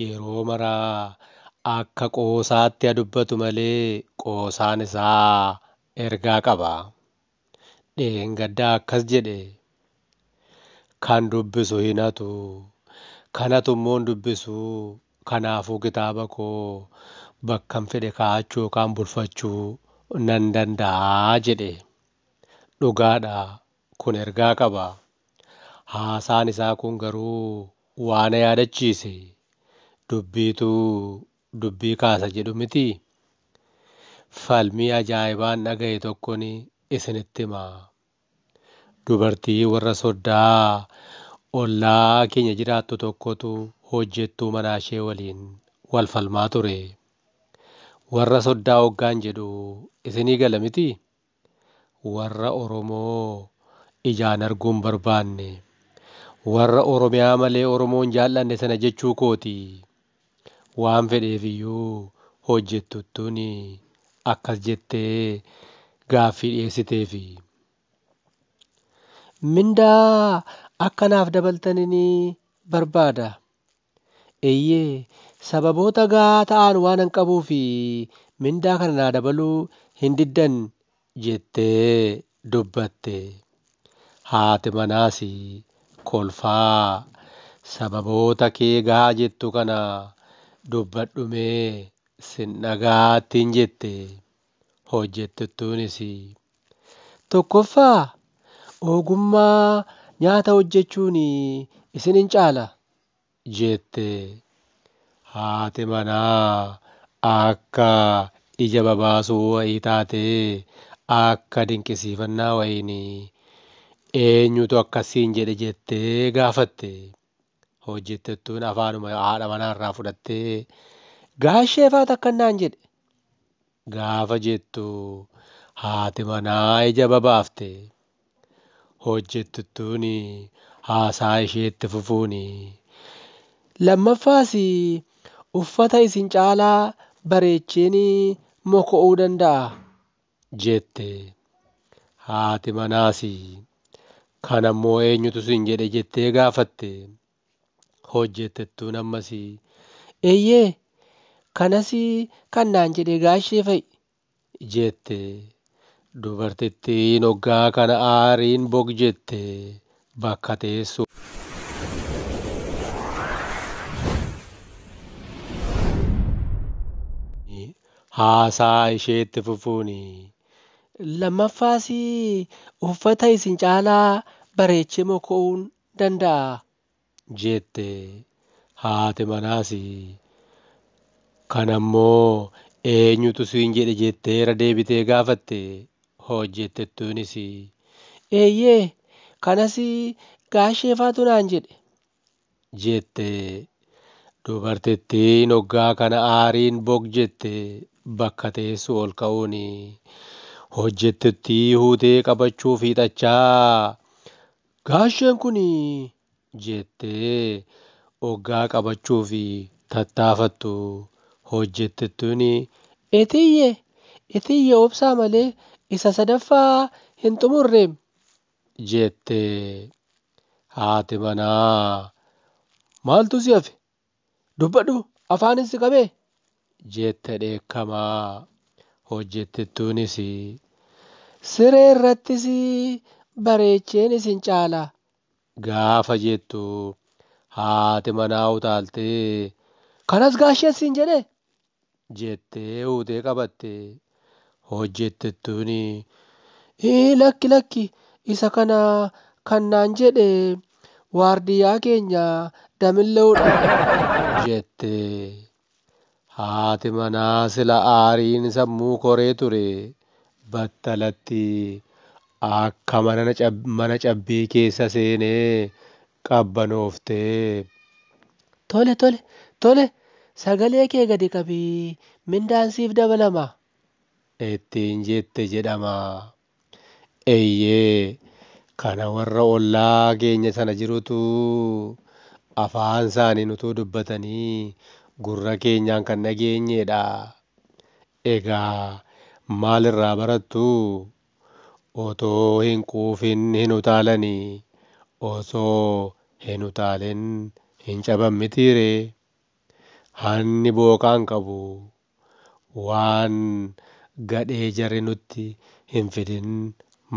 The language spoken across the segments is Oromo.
yeroo mara akka qoosaatti ha dubbatu malee qoosaan isaa ergaa qaba. Dheengadda akkas jedhe, Kan dubbisu hin hatu, kan hatu immoo hin dubbisu, kanaafuu kitaaba koo bakkan fedhe kaa'achuu yookaan bulfachuu nan danda'a jedhe. Dhugaadha, kun ergaa qaba. Haasaan isaa kun garuu waa na yaadachiise. Dubbiitu dubbii kaasa jedhu mitii? Falmii ajaa'ibaan dhaga'e tokkon isinitti hima. Dubartii warra soddaa ollaa keenya jiraattu tokkotu hojjettuu manaashee waliin wal falmaa ture. Warra soddaa oggaan jedhu isinii gala mitii? Warra Oromoo ijaan arguu hin barbaanne, warra Oromiyaa malee Oromoo hin jaal'anne sana jechuu kooti. Waan fedheef iyyuu hojjettuttuun akkas jettee gaaffii dhiyeessiteef. Mindaa akka naaf dabaltanin barbaada. Eeyyee, sababoota gahaa ta'an waanan qabuuf mindaa kana naa dabaluu hin diddan jettee dubbatte. Haati manaas kolfaa, Sababoota kee gahaa jettu kana dubbadhumee sin dhaga'a ittiin jette. hojjettottuunis tokkoffaa ogummaa nyaata hojjechuun isin hin caala jette. Haati manaa akka ija babaasuu wayii taatee akka dinqisiifannaa wayiin eenyutu akkas siin jedhe jettee gaafatte. hojjettettuun afaanuma haadha manaarraa fudhattee gaashee faat akkan naan jedhe gaafa jettu haati manaa ija babaafte hojjettuttuun haasaa isheetti fufuun lammaffaas uffata isin caalaa bareecheen moko'uu danda'a jette. Haati manaas, Kana immoo eenyutu siin jedhe jettee gaafatte. Hojjettettuun ammas, Eeyyee, kanas kan naan jedhe gaashee fa'i jette. Dubartittiin oggaa kana aariin bog jette. Bakka teessoo. haasaa ishee itti fufuun lammaffaas uffata isin caalaa bareechee moko'uun danda'a jette. Haati manaas kana immoo eenyutu siin jedhe jettee irra deebitee gaafatte. Hojjettettuunis, Eeyyee, kanas gaasheefaatu naan jedhe jette. Dubartittiin oggaa kana aariin bog jette bakka teessuu ol ka'uun hojjettuttii huutee qabachuuf hiixachaa, Gaasheen kun jettee oggaa qabachuuf tattaafattu hojjettettuun Itiyye! Itiyye obsaa malee isa sadaffaa hin xumurreem! jette. Haati manaa Maaltu si hafe? Dubbadhu afaanin si qabee? jette dheekkamaa. Hojjettettuunis Siree irrattis bareecheen isin caala gaafa jettu haati manaa utaaltee kanas gaasheen siin jedhee? jettee uutee qabatte. Hojjettittuun ii lakki lakki isa kana kan naan jedhe waardiyyaa keenya Damillee'udha jette. Haati manaa sila aariin sammuu koree ture battalatti akka mana cabbii keessa seenee qabbanooftee, Tole, tole, tole, sagalee kee gadi qabi, mindaan siif dabalama! ittiin jette jedhama. Eeyyee, kana warra ollaa keenya sana jirutu afaan isaaniin utuu dubbatanii gurra keenyaan kan dhageenye dha. Egaa maal irraa barattu? Otoo hin quufin hin utaalani, osoo hin utaalin hin caban mitii ree? Hanni booqaan qabu Waan gadhee jarri nutti hin fidin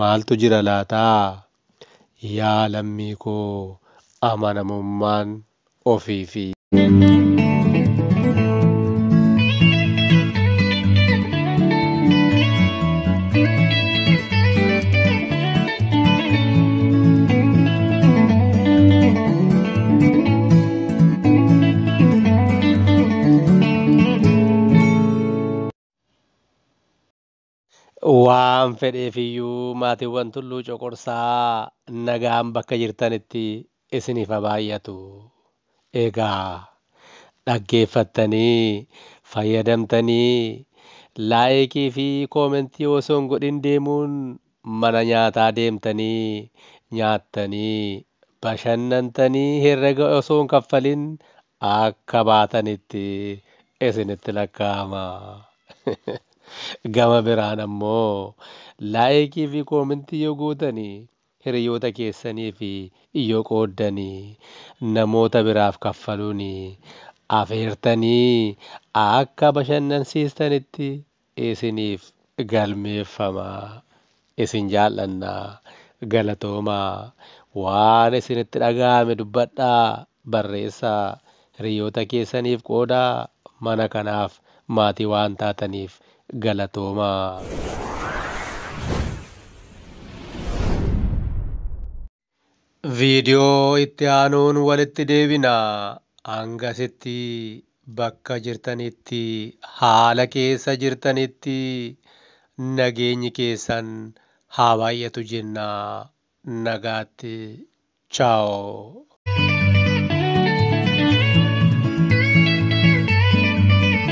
maaltu jira laata? Yaa lammii koo amanamummaan ofii fi. Waan fedheefiyyuu maatiiwwan Tulluu Coqorsaa nagaan bakka jirtanitti isiniif haa baay'atu. Egaa dhaggeeffattanii fayyadamtanii laayikii fi koomentii osoo hin godhin deemuun mana nyaataa deemtanii nyaattanii bashannantanii herrega osoo hin kaffalin akka baatanitti isinitti lakkaa'ama. Gama biraan ammoo laayikii fi koomentii yoo gootani hiriyoota keessaniif yoo qooddani namoota biraaf kaffaluun afeertanii akka bashannansiistanitti isiniif galmeeffama isin jaallanna galatoomaa waan isinitti dhaga'ame dubbadhaa barreessaa hiriyoota keessaniif qoodaa mana kanaaf maatii waan taataniif galatoomaa. Viidiyoo itti aanuun walitti deebina. Hangasitti bakka jirtanitti, haala keessa jirtanitti nageenyi keessan haa baay'atu jenna. Nagaatti. Ciao.